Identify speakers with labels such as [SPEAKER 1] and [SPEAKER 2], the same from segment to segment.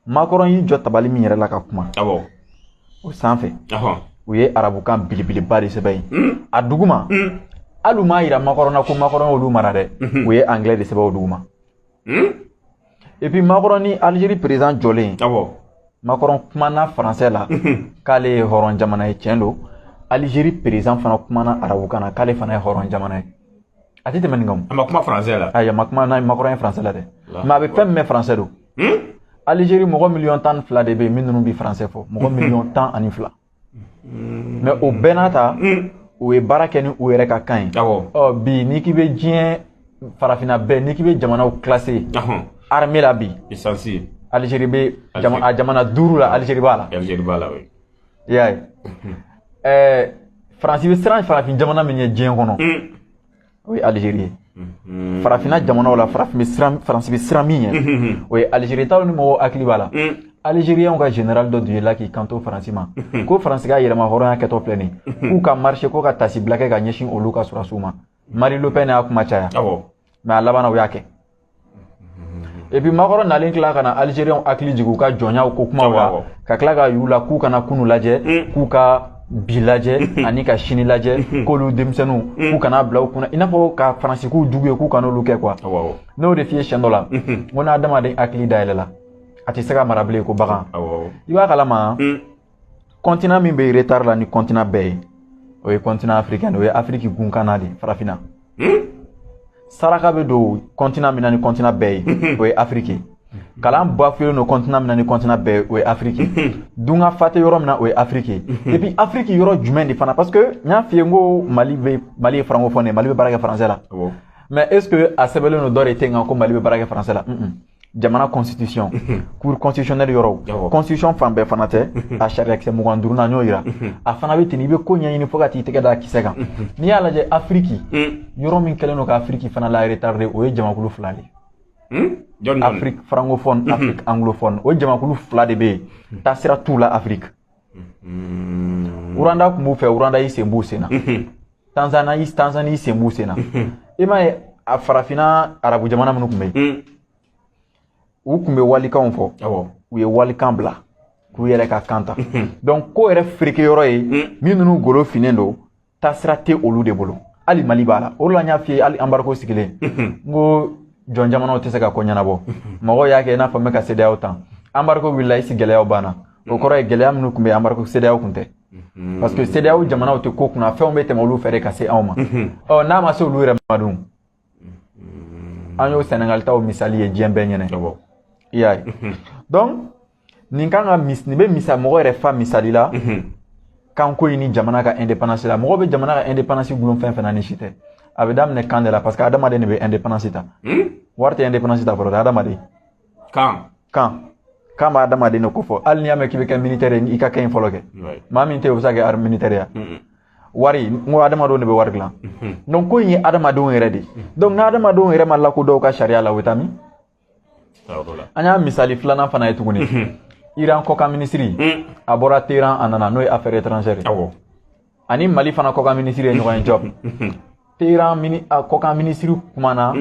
[SPEAKER 1] makɔrɔn y'i jɔ tabali min yɛrɛ la ka kuma awɔ o sanfɛ ahɔn u ye arabukan belebeleba de sɛbɛn yen Mm. a duguma Mm. hali u m'a yira makɔrɔn na ko makɔrɔn y'olu mara dɛ Mhm. u ye anglais de sɛbɛn o duguma Mm. et puis makɔrɔn ni algérie président jɔlen awɔ makɔrɔn kumana français la Mhm. k'ale ye hɔrɔn jamana ye tiɲɛ don algérie président fana kumana arabukan na k'ale fana ye hɔrɔn jamana ye a tɛ tɛmɛ nin kan a ma kuma français la
[SPEAKER 2] ayi a ma kuma n'a makɔrɔn
[SPEAKER 1] ye français la dɛ mais a bɛ fɛn min mɛn français don Algérie mɔgɔ miliyɔn tan ni fila de bɛ yen min ninnu bɛ français fɔ mɔgɔ miliyɔn tan ani fila mais o bɛɛ n'a ta u ye baara kɛ ni u yɛrɛ ka kan ye ɔ bi n'i k'i bɛ diɲɛ farafinna bɛɛ n'i k'i bɛ jamanaw classer armée la bi Algérie bɛ a jamana duuru la Algérie b'a la i
[SPEAKER 2] y'a
[SPEAKER 1] ye ɛɛ faransi bɛ siran farafin jamana min ɲɛ diɲɛ kɔnɔ o ye Algérie ye farafinna jamanaw la farafin bɛ siran faransi bɛ siran min ɲɛ o ye Algérie taw ni mɔgɔw hakili b'a la Algériens ka général dɔ dun ye la k'i kanto faransi ma ko faransi ka yɛrɛmahɔrɔnya kɛtɔ filɛ nin k'u ka marcher ko ka taasibila kɛ ka ɲɛsin olu ka sɔrɔdasiw ma Marine Le Pen y'a kuma caya mais a laban na u y'a kɛ et puis makɔrɔn nalen tila ka na Algériens hakili jigin u ka jɔnyaw ko kumaw la ka tila k'a y'u la k'u kana kunu lajɛ mm. k'u ka bi lajɛ mm-hmm. ani ka sini lajɛ mm-hmm. k'olu denmisɛnninw mm. k'u kan'a bila u kun na i n'a fɔ ka faransi k'u jugu ye k'u kan'olu kɛ quoi n y'o de f'i ye siɲɛ dɔ la mm-hmm. n ko n'adamaden hakili dayɛlɛla a tɛ se ka mara bilen ko bagan i b'a kalama mm. continent min bɛ retard la ni continent bɛɛ ye o ye continent africain o ye afiriki gunkanna de ye farafinna hmm? saraka bɛ don continent min na ni continent bɛɛ ye hmm. o ye afiriki kalan bafouélen don continent min na ni continent bɛɛ ye o ye afiriki hmm. dunkafa tɛ yɔrɔ min na o ye afiriki ye et puis afiriki yɔrɔ jumɛn de fana parce que n y'a f'i ye n ko mali bɛ mali ye francophone ye mali bɛ baara kɛ français la mais est ce que a sɛbɛnlen don dɔ de tɛ yen kan ko mali bɛ baara kɛ français la jamana constitution mhm. cour constitutionnelle yɔrɔw constitution fan bɛɛ fana tɛ mhm. a sariyakisɛ mugan duurunan y'o yira mhm. a fana bɛ ten i bɛ ko ɲɛɲini fo ka t'i tɛgɛ da kisɛ kan n'i y'a lajɛ afiriki yɔrɔ min kɛlen don ka afiriki fana la retarder o ye jamakulu fila de ye afiriki francophone afiriki anglophone o jamakulu fila de bɛ yen taasira t'u la afiriki Mm-hmm. Rwanda tun b'u fɛ Rwanda y'i sen b'u sen na mm-hmm. Tanzana y'i Tanzanie y'i sen b'u sen na mm-hmm. i m'a ye a farafinna arabu jamana minnu tun bɛ yen mm. u tun bɛ walikanw fɔ u ye walikan bila k'u yɛrɛ ka kan ta donc ko yɛrɛ fereke yɔrɔ ye mm. min ninnu golo finnen don taasira tɛ olu de bolo hali mali b'a la o de la n y'a f'i ye hali embargo sigilen n ko jɔn jamanaw tɛ se ka ko ɲɛnabɔ mɔgɔw y'a kɛ i n'a fɔ n bɛ ka CEDEAO tan embargo wulila est-ce gɛlɛyaw banna o kɔrɔ ye gɛlɛya minnu tun bɛ embargo CEDEAO tun tɛ parce que CEDEAO jamanaw tɛ ko kunna fɛnw bɛ tɛmɛ olu fɛ de ka se anw ma ɔ n'a ma se olu yɛrɛ ma dun an y'o sɛnɛgali taw misali ye diɲɛ bɛɛ ɲɛ na i y'a ye donc nin kan ka nin bɛ misa mɔgɔ yɛrɛ fa misali la kanko in ni jamana ka indépendance la mɔgɔ bɛ jamana ka indépendance gulon fɛn fɛn na nin si tɛ a bɛ daminɛ kan de la parce que adamaden de bɛ indépendance ta wari tɛ indépendance ta fɔlɔ dɛ adamaden kan kan kan bɛ adamaden de kofɔ hali n'i y'a mɛn k'i bɛ kɛ militaire ye i ka kɛ in fɔlɔ kɛ maa min tɛ o bɛ se ka kɛ armée militaire ye wari n ko adamadenw de bɛ wari dilan mhm. donc ko in ye adamadenw yɛrɛ de ye mhm. donc n'adamadenw yɛrɛ ma lakodɔn ka sariya la o bɛ taa min an y'a misali filanan fana ye tuguni mhm. iran kɔkan minisiri a bɔra teheran a nana n'o ye affaire étrangère ye ani mali fana kɔkan minisiri ye ɲɔgɔn ye jɔb teheran mini a kɔkan minisiri kumana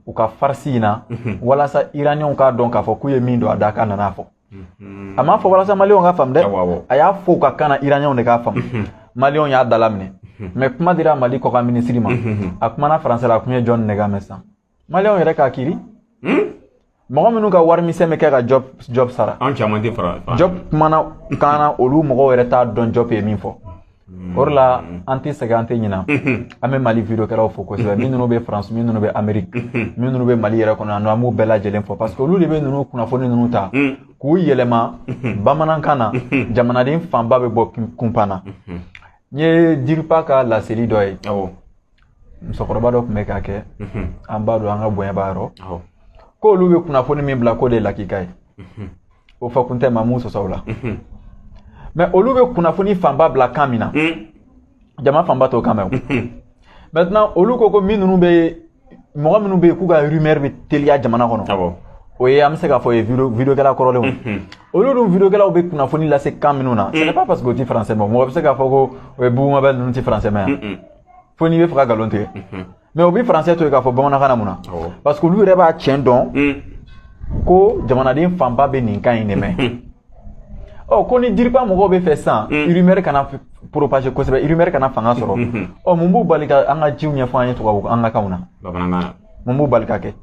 [SPEAKER 1] u ka farisi in na walasa iraniyɛnw k'a dɔn k'a fɔ k'u ye min don a da k'a nana fɔ a m'a fɔ walasa maliyɛnw k'a faamu dɛ a y'a fɔ u ka kan na iraniyɛnw de k'a faamu maliyɛnw y'a dalaminɛ mais kuma dira mali kɔkan minisiri ma a kumana faransɛ la a kun ye jɔn de k'a mɛn san maliyɛnw yɛrɛ k'a kiri hmm? mɔgɔ minnu ka wari misɛn bɛ kɛ ka jɔb jɔb sara an caman tɛ
[SPEAKER 2] fara jɔb
[SPEAKER 1] kumana kan na olu mɔgɔw yɛrɛ t'a dɔn jɔb ye min fɔ o de la an tɛ sɛgɛn an tɛ ɲina an bɛ mali videokɛlaw fo kosɛbɛ min ninnu bɛ faransi min ninnu bɛ ameriki min ninnu bɛ mali yɛrɛ kɔnɔ yan nɔ an b'u bɛɛ lajɛlen fo parce que olu de bɛ ninnu kunnafoni ninnu ta k'u yɛlɛma bamanankan na jamanaden fanba bɛ bɔ kunpan na n ye diripa ka laseli dɔ ye musokɔrɔba dɔ tun bɛ k'a kɛ an b'a dɔn an ka bonya b'a yɔrɔ k'olu bɛ kunnafoni min bila k'o de ye lakika ye o fɔkun tɛ maa m'u sɔsɔ o la mais olu bɛ kunnafoni fanba bila kan min na jama fanba t'o kan mɛn maintenant olu ko ko min ninnu bɛ mɔgɔ minnu bɛ yen k'u ka rumeur bɛ teliya jamana kɔnɔ o ye an bɛ se k'a fɔ o ye videokɛla kɔrɔlenw olu dun videokɛlaw bɛ kunnafoni lase kan minnu na c'est pas parce que o ti français mɛn mɔgɔ bɛ se k'a fɔ ko o ye bugumabɛ ninnu ti français mɛn yan fo n'i b'a fɛ ka nkalon tigɛ mais u bɛ faransɛ to yen k'a fɔ bamanankan na mun na parce que olu yɛrɛ b'a tiɲɛ dɔn ko jamanaden fanba bɛ nin kan in de mɛn ɔ ko ni diripa mɔgɔw b'a fɛ sisan rumeur kana propager kosɛbɛ rumeur kana fanga sɔrɔ ɔ mun b'u bali ka an ka jiw ɲɛfɔ an ye tubabu an ka kanw na mun
[SPEAKER 2] b'u bali k'a kɛ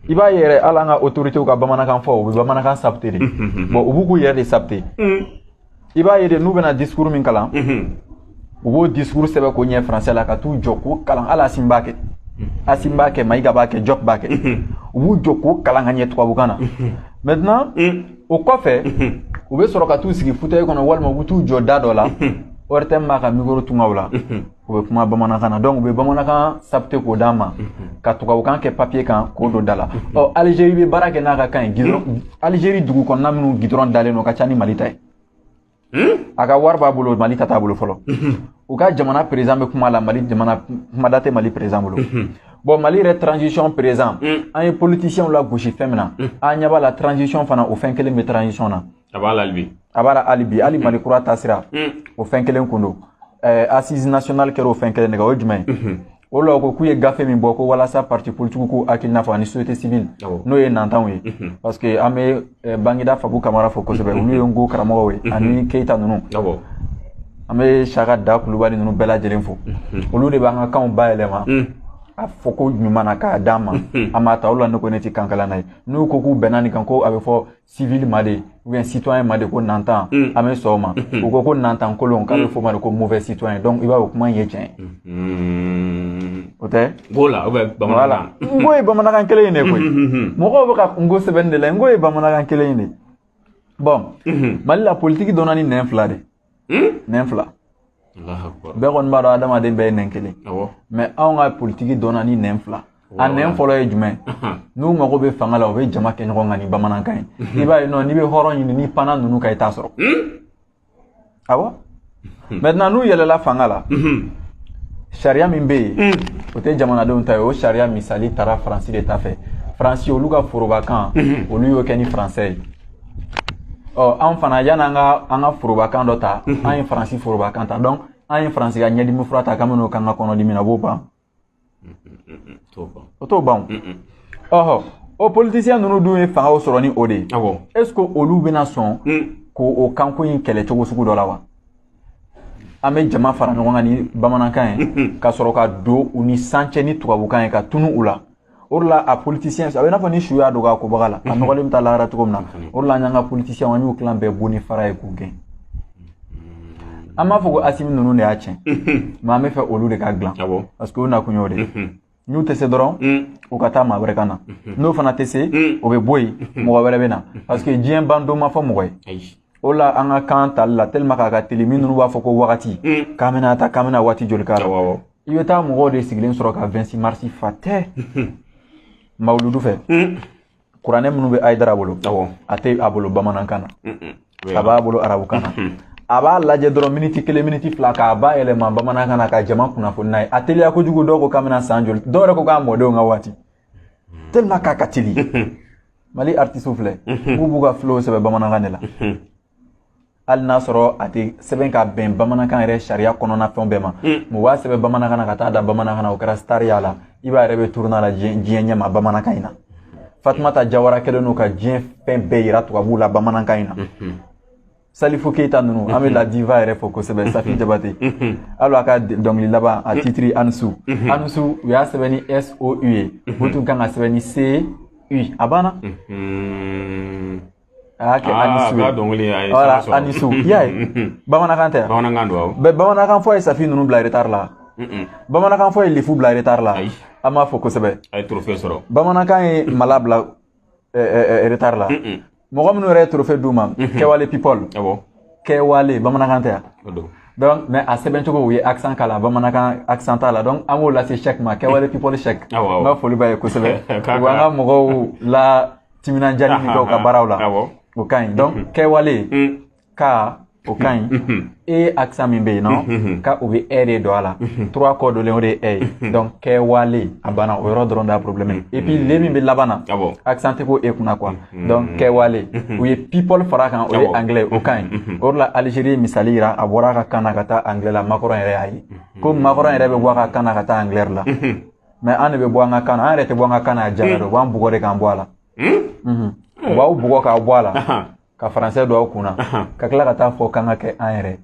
[SPEAKER 1] i b'a ye yɛrɛ hali an ka otoritew ka bamanankan fɔ u bɛ bamanankan saboter de bon u b'u k'u yɛrɛ de saboter i b'a ye de n'u bɛna discours min kalan u b'o discours sɛbɛn k'o ɲɛ français la ka t'u jɔ k'o kalan hali asimi b'a kɛ asimi b'a kɛ mayiga b'a kɛ jɔp b'a kɛ u b'u jɔ k'o kalan ka ɲɛ tubabukan na maintenant o kɔfɛ u bɛ sɔrɔ ka t'u sigi fauteuil kɔnɔ walima u bɛ t'u jɔ da dɔ la ORTM b'a ka micro tunga u la u bɛ kuma bamanankan na donc u bɛ bamanankan sapte k'o d'an ma ka tubabukan kɛ papiye kan k'o don da la ɔ alizeri bɛ baara kɛ n'a ka kan ye gidɔrɔn alizeri dugu kɔnɔna minnu gidɔrɔn dalen don ka ca ni mali ta ye a ka wari b'a bolo mali ta t'a bolo fɔlɔ u ka jamana perezan bɛ kuma la mali jamana kumada tɛ mali perezan bolo bɔn mali yɛrɛ transition perezan an ye politisiɛnw lagosi fɛn min na an ɲɛ b'a la transition fana o fɛn kelen bɛ transition na a b'a la
[SPEAKER 2] halibi a b'a la halibi hali mali kura
[SPEAKER 1] taasira o fɛn kelen kun don assise nationale kɛra o fɛn kelen de kan o ye jumɛn ye o la ko k'u ye gafe min bɔ ko walasa parti politique k'u hakilina fɔ ani société civile n'o ye nantanw ye parce que an bɛ bangida fabu kamara fo kosɛbɛ olu ye nko karamɔgɔw ye ani keyita ninnu an bɛ saka da kulubali ninnu bɛɛ lajɛlen fo olu de b'an ka kanw bayɛlɛma a fɔko ɲuman na k'a d'an ma an b'a ta o la ne ko ne tɛ kankalanna ye n'u ko k'u bɛnna nin kan ko a bɛ fɔ civil ma de ou bien citoyen ma de ko nantan mm. an bɛ sɔn o ma mm-hmm. u ko ko nantan kolon k'a bɛ mm. f'o ma de ko mauvais citoyen donc i b'a ye o kuma in ye tiɲɛ ye mm-hmm. o tɛ b'o la ou
[SPEAKER 2] bien bamanankan nko ye
[SPEAKER 1] bamanankan kelen in de koyi mm-hmm. mɔgɔw bɛ ka nko sɛbɛnni de la nko ye bamanankan kelen in de bɔn mali la politiki donna ni nɛn fila de nɛn fila bɛɛ kɔni b'a dɔn adamaden bɛɛ ye nɛn kelen mɛ anw ka politiki donna ni nɛn fila a nɛn fɔlɔ ye jumɛn n'u mago bɛ fanga la u bɛ jama kɛ ɲɔgɔn kan ni bamanankan ye i b'a ye nɔ n'i bɛ hɔrɔn ɲini ni panna ninnu ka i t'a sɔrɔ awɔ mɛtinan n'u yɛlɛla fanga la sariya min bɛ yen o tɛ jamanadenw ta ye o sariya misali taara faransi de ta fɛ faransi olu ka forobakan olu y'o kɛ ni faransɛ ye ɔ anw fana yan'an ka an ka forobakan dɔ ta mhm. an ye faransi forobakan ta donc an ye faransi ka ɲɛdimi fura ta k'an bɛn'o k'an ka kɔnɔdimi na b'o ban o t'o ban ɔhɔ o politisiyɛn ninnu dun ye fangaw sɔrɔ ni o de ye est ce que olu bɛna sɔn mm. k'o o kanko in kɛlɛ cogo sugu dɔ la wa an bɛ jama fara ɲɔgɔn kan ni bamanankan ye ka sɔrɔ ka don u ni san cɛ ni tubabukan ye ka tunu u la o de la a politisiyɛn a bɛ n'a fɔ ni su y'a dogo a kobaga la a nɔgɔlen bɛ taa lahara cogo min na o de la an y'an ka politisiyɛnw an y'u tilan bɛɛ bon ni fara ye k'u gɛn an b'a fɔ ko asimi ninnu de y'a tiɲɛ mɛ an b'a fɛ olu de k'a dilan parce que o nakun y'o de ye n'u tɛ se dɔrɔn u ka taa maa wɛrɛ ka na n'o fana tɛ se o bɛ bɔ yen mɔgɔ wɛrɛ bɛ na parce que diɲɛ ban don ma fɔ mɔgɔ ye o la an ka kan tali la tellement k'a ka teli minnu b'a fɔ ko wagati k'an bɛna taa k'an bɛna waati joli k'a la i bɛ taa mɔgɔw de sigilen sɔrɔ ka vɛnsisi marisi fa tɛ mawuludu fɛ kuranɛ minnu bɛ ayidara bolo a tɛ a bolo bamanankan na a b'a bolo arabukan na a b'a lajɛ dɔrɔn miniti kelen miniti fila k'a bayɛlɛma bamanankan na ka jama kunnafoni n'a ye a teliya kojugu dɔw ko k'a bɛna san joli dɔw yɛrɛ ko k'a mɔdenw ka waati tellement k'a ka teli mali artisiw filɛ k'u b'u ka filow sɛbɛn bamanankan de la hali n'a sɔrɔ a tɛ sɛbɛn ka bɛn bamanankan yɛrɛ sariya kɔnɔna fɛnw bɛɛ ma mais u b'a sɛbɛn bamanankan na ka taa da bamanankan na o kɛra sitariya la iba yɛrɛ bɛ tournée la diɲɛ ɲɛ ma bamanankan in na fatumata jawara kɛlen don ka diɲɛ fɛn bɛɛ yira tubabuw la bamanankan in na salifu keyita ninnu an bɛ la diva yɛrɛ fo kosɛbɛ safi jabate hali a ka dɔnkili laban a titiri a ni su a ni su u y'a sɛbɛn ni sou ye o tun kan ka sɛbɛn ni s u a banna a kɛ a ni su ye dɔnkili a ye voilà a ni su y'a ye bamanankan tɛ bamanankan don bɛ bamanankan fɔ ye safi ninnu bila retard la bamanankan fɔ ye lifu bila retard la an b'a fo kosɛbɛ a ye trophée sɔrɔ
[SPEAKER 2] bamanankan ye mala
[SPEAKER 1] bila retard la mɔgɔ minnu yɛrɛ ye trophée d'u ma kɛwale people kɛwale bamanankan tɛ yan donc mais a sɛbɛn cogo u ye accent k'a la bamanankan accent t'a la donc an b'o lase cheick ma kɛwale people cheick n ka foli b'a ye kosɛbɛ u b'an ka mɔgɔw la timinandiyali min kɛ u ka baaraw la o ka ɲi donc kɛwale ka o ka ɲi e accent min bɛ yen non ka u bɛ ɛ de don a la trois kɔ donlen o de ye ɛ ye donc kɛwale a banna o yɔrɔ dɔrɔn de y'a problème ye et puis le min bɛ laban na accent tɛ k'o e kunna quoi donc kɛwale u ye people fara a kan o ye anglais o ka ɲi o de la Algérie misali yira a bɔra a ka kan na ka taa anglais la macron yɛrɛ y'a ye ko macron yɛrɛ bɛ bɔ a ka kan na ka taa anglais la mais an de bɛ bɔ an ka kan na an yɛrɛ tɛ bɔ an ka kan na a jara dɛ u b'an bugɔ de k'an bɔ a la u b'aw bugɔ k'aw bɔ a la ka français don aw kun na ka tila ka taa fɔ k'an ka kɛ an yɛrɛ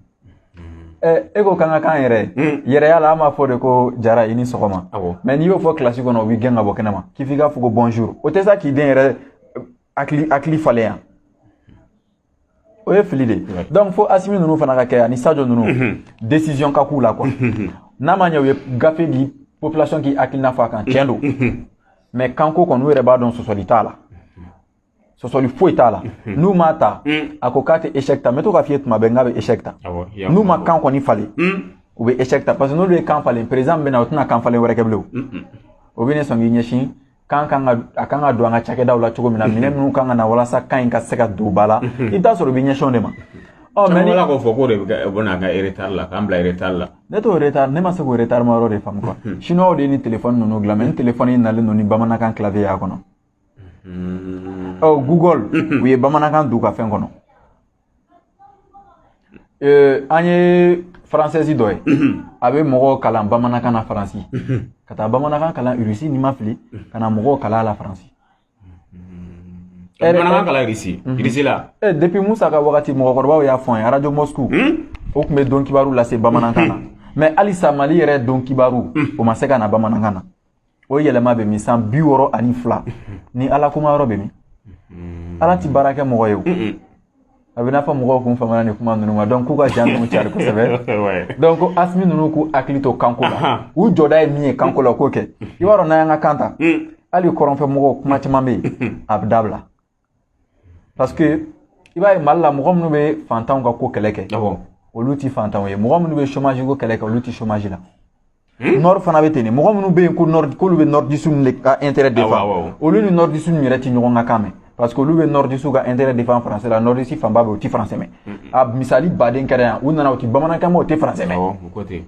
[SPEAKER 1] ye ko k'an ka k'an yɛrɛ yɛrɛya la an b'a fɔ de ko jara i ni sɔgɔma mais n'i y'o fɔ kilasi kɔnɔ u b'i gɛn ka bɔ kɛnɛma k'i f'i k'a fɔ ko bonjour o tɛ sa k'i den yɛrɛ hakili falen yan o ye fili de ye donc fo asimi ninnu fana ka kɛ ani sajo ninnu mhm. décision ka k'u la quoi mhm. n'a ma ɲɛ u ye gafe di population k'i hakilina fɔ a kan tiɲɛ don mhm. mais kanko kɔni u yɛrɛ b'a dɔn sɔsɔli t'a la sɔsɔli foyi t'a la n'u m'a ta a ko k'a tɛ échec ta n bɛ to k'a f'i ye tuma bɛɛ n k'a bɛ échec ta n'u ma kan kɔni falen u bɛ échec ta parce que n'olu ye kan falen président min bɛ na o tɛna kan falen wɛrɛ kɛ bilen o o bɛna sɔn k'i ɲɛsin kan kan ka kan ka don an ka cakɛdaw la cogo min na mhm. minɛn minnu kan ka na walasa kan in ka se ka don ba la mhm. i bɛ t'a sɔrɔ i bɛ ɲɛsin o de ma ɔ mais ni k'o
[SPEAKER 2] fɔ k'o de bɛ na an kɛ retard la k'an bila retard la ne t'o retard ne ma
[SPEAKER 1] se k'o retard ma yɔrɔ de faamu quoi mhm. chinois de ye nin telefɔni ninnu dilan mais ni telefɔni in nalen don ni bamanankan clavier y'a kɔnɔ ɔ google u ye bamanankan don u ka fɛn kɔnɔ Euh, an ye française dɔ ye a bɛ mɔgɔw kalan bamanankan na faransi ka taa bamanankan kalan irisi ni n ma fili ka na mɔgɔw kalan la faransi
[SPEAKER 2] bamanankan kalan irisi irisi la eh, depuis musa ka
[SPEAKER 1] wagati mɔgɔkɔrɔbaw y'a fɔ n ye arajo moscou hmm? o tun bɛ don kibaru lase bamanankan na mais halisa mali yɛrɛ don kibaru hmm. o ma se ka na bamanankan na o yɛlɛma bɛ min san bi wɔɔrɔ ani fila ni ala kuma yɔrɔ bɛ min ala ti baara kɛ mɔgɔ ye o a bɛ n'a fɔ mɔgɔw kun famana nin kuma ninnu ma donc k'u ka jan ninnu cari kosɛbɛ donc ko asimi ninnu k'u hakili to kanko la u jɔda ye min ye kanko la k'o kɛ i b'a dɔn n'an y'an ka kan ta hali kɔrɔnfɛ mɔgɔw kuma caman bɛ yen a bɛ dabila parce que i b'a ye mali la mɔgɔ minnu bɛ fantanw ka ko kɛlɛ kɛ awɔ olu ti fantanw ye mɔgɔ minnu bɛ chômage ko kɛlɛ kɛ olu ti chômage la Hmm? nord fana bɛ ten de mɔgɔ minnu bɛ yen ko nord k'olu bɛ nordiste ninnu de ka intérêt Awɔ, défend awɔ. olu ni nordiste ninnu yɛrɛ ti ɲɔgɔn ka kan mɛn parce que olu bɛ nordistes ka intérêt défend français la nordistes fanba bɛ yen u ti français mɛn a misali baden kɛra yan u nana u ti bamanankan mɛn u tɛ français mɛn awɔ o ko ten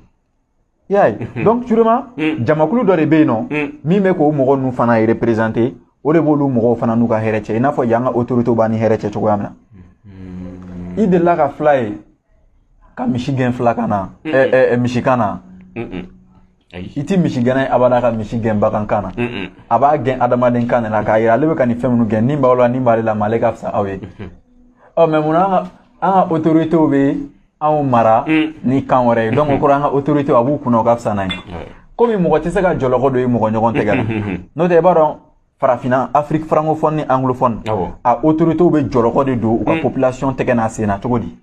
[SPEAKER 1] i y'a ye mhm. donc sûrement mhm. jamakulu dɔ de bɛ yen nɔ mhm. min bɛ k'o mɔgɔ ninnu fana représenter o de b'olu mɔgɔw fana n'u ka hɛrɛ cɛ i n'a fɔ yan ka autorité b'an ni hɛrɛ cɛ cogoya min na i delila ka fila ye ka misi gɛn fila kan na misi kan na i ti misi gɛnna ye abada ka misi gɛn bagan kan na a b'a gɛn adamaden kan de la k'a yira ale bɛ ka nin fɛn minnu gɛn ni b'aw la ni b'ale la mais ale ka fisa aw ye ɔ mais mun na an ka autorité bɛ anw mara mm. ni kan wɛrɛ ye donc o kɔrɔ an ka autorité a b'u kunna u ka fisa n'an ye komi mɔgɔ tɛ se ka jɔlɔkɔ don i mɔgɔ ɲɔgɔn tɛgɛ la n'o tɛ i b'a dɔn farafina afrique francophone ni anglophone a autorité bɛ jɔlɔkɔ de don u ka mm. population tɛgɛ n'a sen na cogo di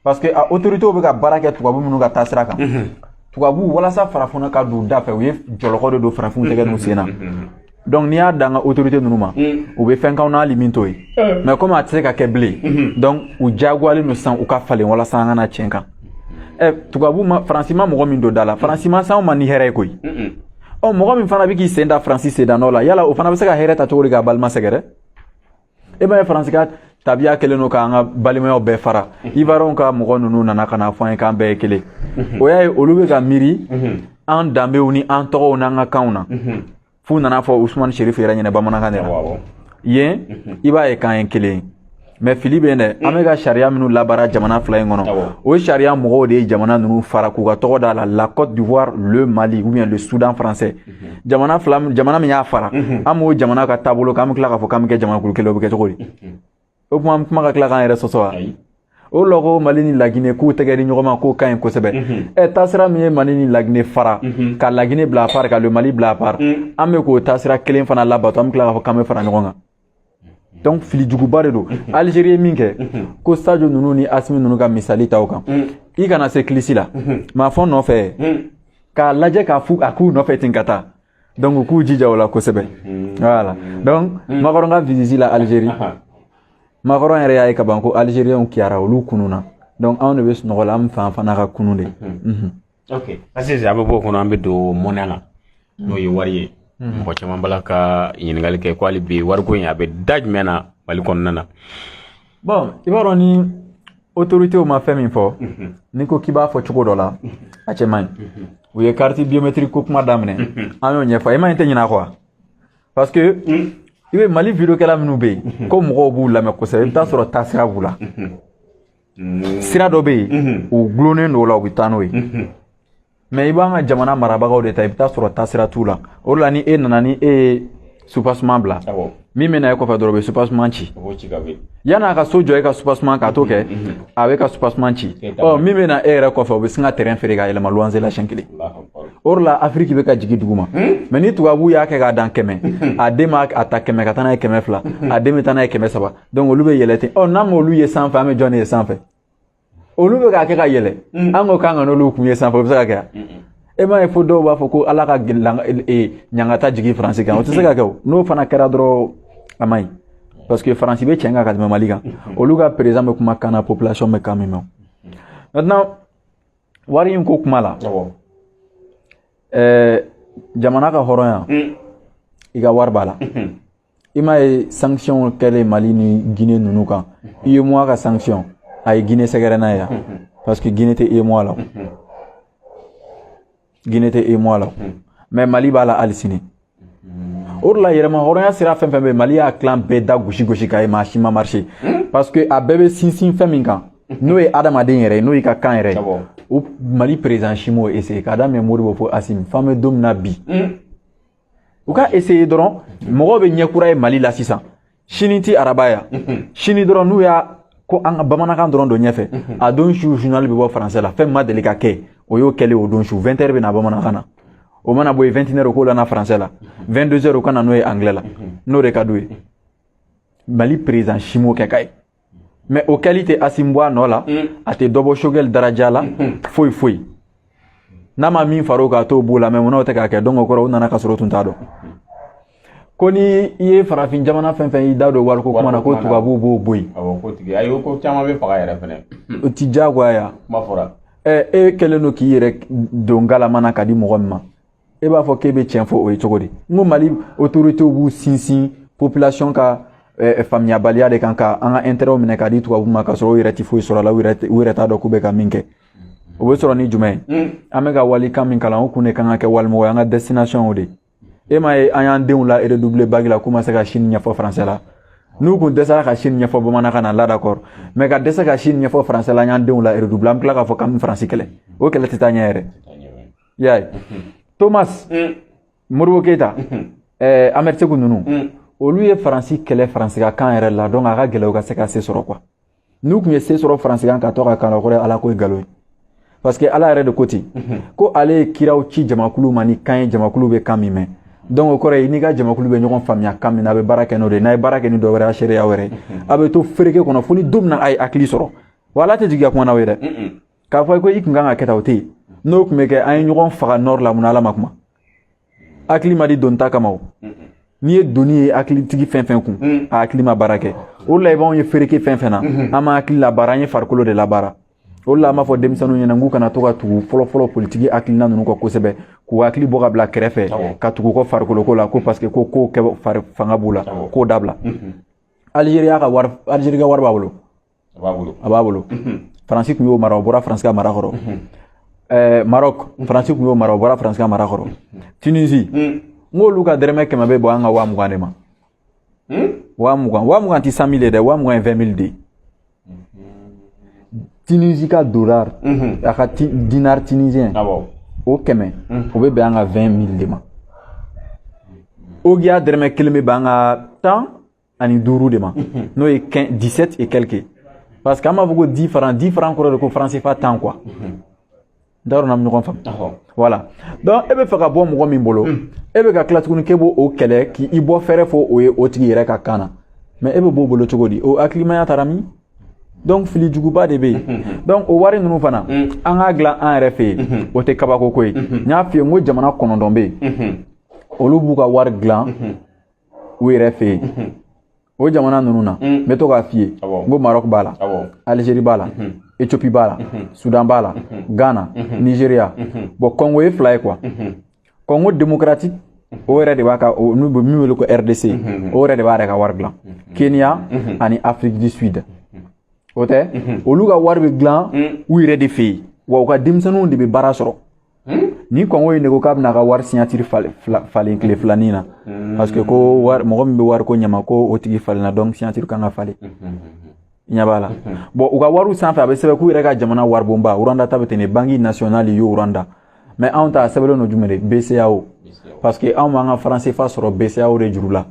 [SPEAKER 1] parce que a autorité bɛ ka baara kɛ tubabu minnu ka taasira kan mm-hmm. tubabu walasa farafinna ka don u da fɛ u ye jɔlɔkɔ de don farafinw tɛgɛ n'u sen na mm-hmm. donc n'i y'a d'an ka autorité ninnu ma u bɛ fɛn k'anw na hali min t'o ye mais komi a tɛ se ka kɛ bilen donc u diyagoyalen don sisan u ka falen walasa an kana tiɲɛ kan ɛ tubabu ma faransi ma mɔgɔ min don da la faransi ma s'anw ma ni hɛrɛ ye koyi ɔ mɔgɔ min fana bɛ k'i sen da faransi sendanɔ la yala o fana bɛ se ka hɛrɛ ta cogo di k'a balima sɛgɛrɛ e b'a ye faransi ka tabiya kɛlen don k'an ka balimayaw bɛɛ fara ivoirienw ka mɔgɔ ninnu nana ka n'a fɔ an ye k'an bɛɛ ye kelen o y'a ye olu bɛ ka miiri an danbew ni an tɔgɔw n'an ka kanw na f'u nan'a fɔ usumani sherifu yɛrɛ ɲɛna bamanankan de la yen i b'a ye k'an ye kelen ye mais fili bɛ dɛ an bɛ ka sariya minnu labaara jamana fila in kɔnɔ o sariya mɔgɔw de ye jamana ninnu fara k'u ka tɔgɔ d'a la la côte d'ivoire le mali ou bien le soudan français jamana min y'a fara an b'o jamana ka taabolo kan an bɛ tila k'a fɔ k'an bɛ kɛ jamanakulu kelen o bɛ kɛ cogo di o kuma an kuma ka tila k'an yɛrɛ sɔsɔ wa o lɔ ko mali ni lagine k'u tɛgɛ di ɲɔgɔn ma k'o ka ɲi kosɛbɛ ɛ taasira min ye mali ni lagine fara ka lagine bila à part ka le mali bila à part an bɛ k'o taasira kelen fana labato an bɛ tila k'a fɔ k'an bɛ fara ɲɔgɔn kan donc fili juguba de don algérie ye min kɛ ko sadio ninnu ni asimi ninnu ka misali ta o kan i kana se kilisi la maa fɔ nɔfɛ k'a lajɛ k'a fu a k'u nɔfɛ ten ka taa donc u k'u jija o la kosɛbɛ voilà donc macron ka visite la algérie macron yɛrɛ y'a ye ka ban ko algérienw kiyara olu kununna donc anw de bɛ sunɔgɔ la an fan fana ka kunun de
[SPEAKER 2] ok sisan an bɛ bɔ o kɔnɔ an bɛ don monnaie la n'o ye wari ye mɔgɔ caman b'a la ka ɲininkali kɛ ko hali bi wariko in a bɛ da jumɛn na mali kɔnɔna na bon
[SPEAKER 1] i b'a dɔn ni autoritéw ma fɛn min fɔ n'i ko k'i b'a fɔ cogo dɔ la a cɛ man ɲi u ye carte biométrique ko kuma daminɛ an y'o ɲɛfɔ i ma ɲi tɛ ɲinɛ a kɔ parce que i bɛ mali videokɛla minnu bɛ yen ko mɔgɔw b'u lamɛn kosɛbɛ i bɛ t'a sɔrɔ taasira b'u la sira dɔ bɛ yen u gulonnen don o la u bɛ taa n'o ye mais i b'an ka jamana marabagaw de ta i bɛ t'a sɔrɔ taasira t'u la o de la ni e nana ni e ye soubassement bila min bɛ na e kɔfɛ dɔrɔn o bɛ soubassement ci yann'a ka so jɔ e ka soubassement k'a tɔ kɛ a bɛ ka soubassement ci ɔ min bɛ na e yɛrɛ kɔfɛ o bɛ sin ka terrain feere ka yɛlɛma luwanze la siɲɛ kelen o de la afiriki bɛ ka jigin duguma mais ni tubabuw y'a kɛ k'a dan kɛmɛ a den b'a ta kɛmɛ ka taa n'a ye kɛmɛ fila a den bɛ taa n'a ye kɛmɛ saba donc olu bɛ yɛlɛ ten ɔ n'an m'olu ye sanfɛ an bɛ jɔn de ye sanfɛ olu bɛ k'a kɛ ka yɛlɛ mm. an ko k'an kan'olu kun ye sanfɛ o bɛ se ka kɛ yan e m'a ye fo dɔw b'a fɔ ko ala ka e, e, ɲangata jigin faransi kan o tɛ se ka kɛ o n'o fana kɛra dɔrɔn a man ɲi parce que faransi bɛ cɛn kan ka tɛmɛ mali kan olu ka président bɛ kuma kan na population bɛ kan min mɛn maintenant wari in ko kuma la ɛɛ jamana ka hɔrɔnya i ka wari b'a la i m'a ye sanction kɛlen mali ni guinée ninnu kan uemoa ka sanction a ye guinée sɛgɛrɛ n'a ye yan parce que guinée tɛ uemoa la guinée tɛ uemoa la mais mali b'a la hali sini o de la yɛrɛmahɔrɔnya sira fɛn fɛn bɛ mali y'a tilan bɛɛ da gosi gosi k'a ye mais a si ma marché parce que a bɛɛ bɛ sinsin fɛn min kan n'o ye adamaden yɛrɛ ye n'o y'i ka kan yɛrɛ ye o mali président si m'o essayer k'a daminɛ modibo fo asimi f'an bɛ don min na bi u ka essayer dɔrɔn mɔgɔw bɛ ɲɛ kura ye mali la sisan sini ti araba ya sini dɔrɔn n'u y'a ko an ka bamanankan dɔrɔn don ɲɛfɛ a don su journal bɛ bɔ français la fɛn min ma deli ka kɛ o y'o kɛlen o don su 20 heures bɛ na bamanankan na o mana bɔ yen 21 heures o k'o lana français la 22 heures o ka na n'o ye anglais la n'o de ka d'u ye mali président si m'o kɛ ka ye mais o kɛli tɛ asimi bɔ a nɔ la mm. a tɛ dɔ bɔ choguel daraja la mm-hmm. foyi foyi n'a ma min fara o kan a t'o b'o la mais munna o tɛ k'a kɛ donc o kɔrɔ u nana k'a sɔrɔ u tun t'a dɔn ko ni i ye farafin jamana fɛn fɛn y'i da don wariko kuma na ko tubabuw b'o bɔ yen awɔ k'o tigi ayi
[SPEAKER 2] ko caman bɛ faga yɛrɛ fɛnɛ o ti diyagoya
[SPEAKER 1] kuma fɔra
[SPEAKER 2] ɛ e kɛlen
[SPEAKER 1] don k'i yɛrɛ don galama na k'a di mɔgɔ min ma e b'a fɔ k'e bɛ tiɲɛ fɔ o ye cogo di n ko mali otoritew b'u sinsin population ka eh, faamuyabaliya de kan ka an ka intérêtw minɛ k'a di tubabu ma k'a sɔrɔ u yɛrɛ tɛ foyi sɔrɔ a la u yɛrɛ t'a dɔn k'u bɛ ka min kɛ o bɛ sɔrɔ ni jumɛn ye hmm. an bɛ ka walikan min kalan o kun de kan ka kɛ walimɔgɔ ye an ka destination o de ye e m'a ye an y'an denw la redoubler bac la k'u ma se ka sini ɲɛfɔ faransɛ la n'u kun dɛsɛra ka sini ɲɛfɔ bamanankan na la d'accord mais ka dɛsɛ ka sini ɲɛfɔ faransɛ la an y'an denw la redoubler an bɛ tila k'a fɔ k'an bɛ faransi kɛlɛ o kɛlɛ tɛ taa ɲɛ yɛrɛ i y'a ye thomas modibo keyita ahmed seku ninnu olu ye faransi kɛlɛ faransi ka kan yɛrɛ la donc a ka gɛlɛn u ka se ka se sɔrɔ quoi n'u tun ye se sɔrɔ faransi kan ka to a ka kan kɔrɔ ala ko ye nkalon ye parce que ala yɛrɛ de ko ten ko ale ye kiraw ci jamakulu ma ni kan ye jamakulu bɛ kan min mɛn donc o kɔrɔ ye n'i ka jamakulu bɛ ɲɔgɔn faamuya kan min na a bɛ baara kɛ n'o de ye n'a ye baara kɛ ni dɔ wɛrɛ a seereya wɛrɛ a bɛ to fereke kɔnɔ fo ni don min na a ye hakili sɔrɔ wa ala tɛ jigin ka kuma n'aw ye dɛ k'a fɔ ko i kun kan ka kɛ tan o tɛ yen n'o tun bɛ kɛ an ye ɲɔgɔn faga nord la munna ala ma kuma hakili ma di doni ta kama o n'i ye doni ye hakilitigi fɛn fɛn kun mm. a hakili ma baara kɛ o la i b'anw ye fereke fɛn fɛn na mm-hmm. an ma hakili labaara an ye farikolo de labaara o la an b'a fɔ denmisɛnninw ɲɛna n k'u kana to ka tugu fɔlɔfɔlɔ politiki hakilina ninnu kɔ kosɛbɛ k'u hakili bɔ ka bila kɛrɛfɛ ka tugu kɔ farikoloko la ko parce que ko ko kɛ fanga b'u la k'o dabila mm-hmm. alizeri y'a ka wari alizeri ka wari b'a bolo a b'a bolo a b'a bolo faransi tun y'o mara o bɔra faransi ka mara kɔrɔ ɛɛ marɔk faransi tun y'o mara o bɔra faransi ka mara kɔrɔ tunisi n k'olu ka dɛrɛmɛ kɛmɛ bɛ bɔ an ka waa mugan de ma waa mugan waa mugan tɛ cent mille ye dɛ waa mugan ye vingt mille de ye tunisi ka dolar a ka ti- dinar tunisien awɔ o kɛmɛ o bɛ bɛn an ka 20 mille de ma ogiya dɛrɛmɛ kelen bɛ bɛn an ka tan ani duuru de ma n'o ye 17 et quelques parce que an b'a fɔ ko 10 francs 10 francs kɔrɔ de ko franc CFA tan quoi n t'a dɔn n'an bɛ ɲɔgɔn faamu voilà donc e bɛ fɛ ka bɔ mɔgɔ min bolo e bɛ ka tila tuguni k'e b'o kɛlɛ k'i bɔ fɛɛrɛ fɔ o ye o tigi yɛrɛ ka kan na mais e bɛ b'o bolo cogo di o hakilimaya taara min donc fili juguba de bɛ yen donc o wari ninnu fana an k'a dilan an yɛrɛ fɛ yen o tɛ kabako ko ye n y'a f'i ye n ko jamana kɔnɔntɔn bɛ yen olu b'u ka wari dilan u yɛrɛ fɛ yen o jamana ninnu na n bɛ to k'a f'i ye n ko marɔku b'a la alizeri b'a la etiyopi b'a la sudan b'a la ghana nizeriya bon kɔngo ye fila ye quoi kɔngo demokaratiki o yɛrɛ de b'a ka n'u bɛ min wele ko rdc o yɛrɛ de b'a yɛrɛ ka wari dilan kenya ani afrique du sud o tɛ olu ka wari bɛ dilan u yɛrɛ de fɛ yen wa u ka denmisɛnninw de bɛ baara sɔrɔ Hmm? Ni congo ye ne ko k'a bɛna ka wari signature falen tile filanin na hmm. parce que ko mɔgɔ min bɛ wariko ɲɛnabɔ o tigi falenna donc signature kan ka falen hmm, ɲɛ b'a la bon u ka wariw sanfɛ a bɛ sɛbɛn k'u yɛrɛ ka jamana waribonba rwanda ta bɛ ten ne banki nasiyɔnali y'u rwanda mais anw ta a sɛbɛnlen don jumɛn de bceao parce que anw b'an ka franc cfa sɔrɔ bceao de juru la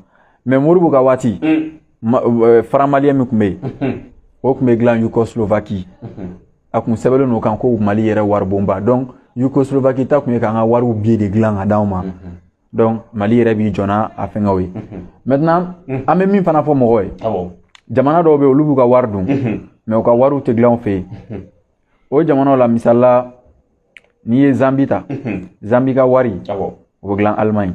[SPEAKER 1] mais modibo ka waati euh, franc malien min tun bɛ yen o tun bɛ dilan yougoslovaquie a kun sɛbɛnlen n'o kan ko mali yɛrɛ waribonba donc yougoslovaquie ta kun ye k'an ka wariw billet de dilan ka d'anw ma donc mali yɛrɛ b'i jɔ n'a fɛngɛw ye maintenant an bɛ min fana fɔ mɔgɔw ye jamana dɔw bɛ olu b'u ka wari dun mais u ka wariw tɛ dilan u fɛ yen o jamanaw la misali la n'i ye zambie ta zambie ka wari o bɛ dilan allemagne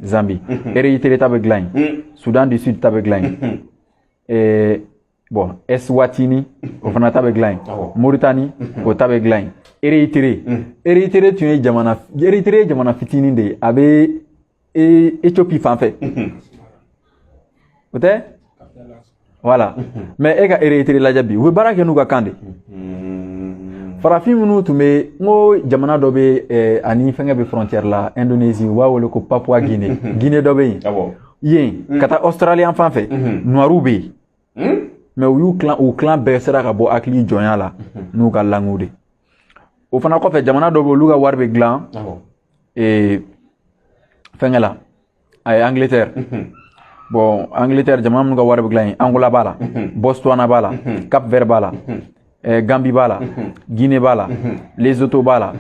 [SPEAKER 1] zambie érythrée ta bɛ dilan yen soudan du sud ta bɛ dilan yen bon eswatini o fana ta bɛ dilan yen mauritanie o ta bɛ dilan yen érythrée érythrée tun ye jamana érythrée ye jamana fitinin de ye a bɛ éthiopie fan fɛ o tɛ voilà mais e ka érythrée lajɛ bi u bɛ baara kɛ n'u ka kan de farafin minnu tun bɛ n ko jamana dɔ bɛ eh, ani fɛnkɛ bɛ frontière la indonésie u b'a wele ko papua guinée guinée dɔ bɛ yen yen ka taa australie fan fɛ noirw bɛ yen Hmm? mais u y'u kalan u kalan bɛɛ sera ka bɔ hakili jɔnya la mhm. n'u ka langue de o fana kɔfɛ jamana dɔ bɛ olu ka wari bɛ dilan ee fɛnkɛ la a ye angleterre mhm. bon angleterre jamana minnu ka wari bɛ dilan yen angola b'a la mhm. botswana b'a la cap vert b'a la eh, gambie b'a la guinée b'a la lesotho b'a la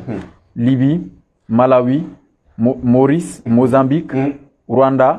[SPEAKER 1] libye malawi maurice mozambique rwanda